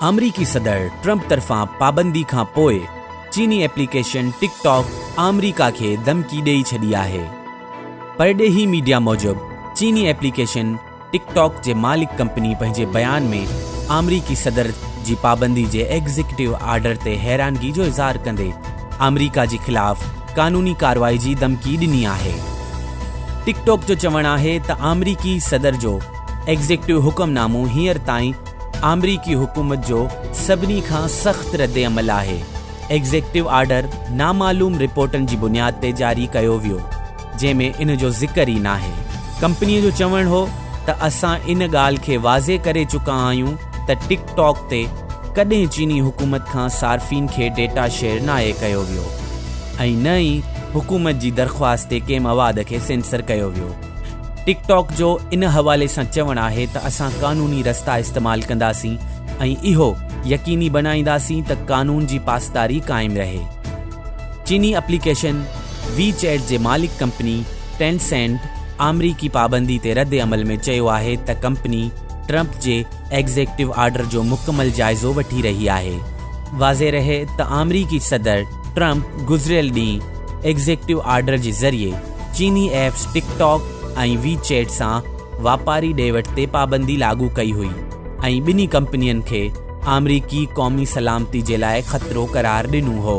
آمريڪي صدر ٽرمپ طرفان پابندي کان پوء چيني ايپليڪيشن ٽڪ ٽاڪ آمريڪا کي ڌمڪي ڏئي ڇڏي آهي. پرڏيهي ميڊيا موجب چيني ايپليڪيشن ٽڪ ٽاڪ جي مالڪ ڪمپني پنهنجي بيان ۾ آمريڪي صدر جي پابندي جي ايگزيڪٽو آرڊر تي حيرانگي جو اظهار ڪندي آمريڪا جي خلاف قانوني ڪارروائي جي دمڪي ڏني آهي. ٽڪ ٽاڪ جو چوڻ آهي ته آمريڪي صدر جو ايگزيڪٽو حڪم نامو هينئر تائين آمريڪي حڪومت جو سڀني کان سخت رد عمل آهي. ايگزيڪٽو آرڊر نامعلوم رپورٽن جي بنياد تي جاري ڪيو ويو. جنهن ۾ ان جو ذڪر ئي ناهي. ڪمپنيء جو چوڻ هو ته اسان ان ڳالهه کي واضح ڪري چڪا آهيون ته ٽڪ ٽاڪ تي ڪڏهن چيني حڪومت کان صارفين کي ڊيٽا شيئر ناهي ڪيو ويو ۽ نه ئي حڪومت جي درخواست تي ڪنهن مواد کي سينسر ڪيو ويو. ٽڪ ٽاڪ جو ان حوالي سان چوڻ آهي ته اسان قانوني رستا استعمال ڪنداسين ۽ اهو يقيني بڻائينداسين ته قانون جي پاسداري قائم رهي. چيني اپليڪيشن وي چيٽ جي مالڪ ڪمپني ٽين سينٽ آمريڪي پابندي تي رد عمل ۾ چيو آهي ته ڪمپني ٽرمپ جي ايگزيڪٽو آرڊر جو مڪمل جائزو وٺي رهي آهي. واضح رهي ته آمريڪي صدر ٽرمپ گذريل ڏينهن ايگزيڪٽو آرڊر جي ذريعي چيني apps TikTok ۽ WeChat سان واپاري ڏي وٺ تي پابندي لاڳو ڪئي هئي ۽ ٻنهي ڪمپنين کي آمريڪي قومي سلامتي جي لاء خطرو قرار ڏنو هو.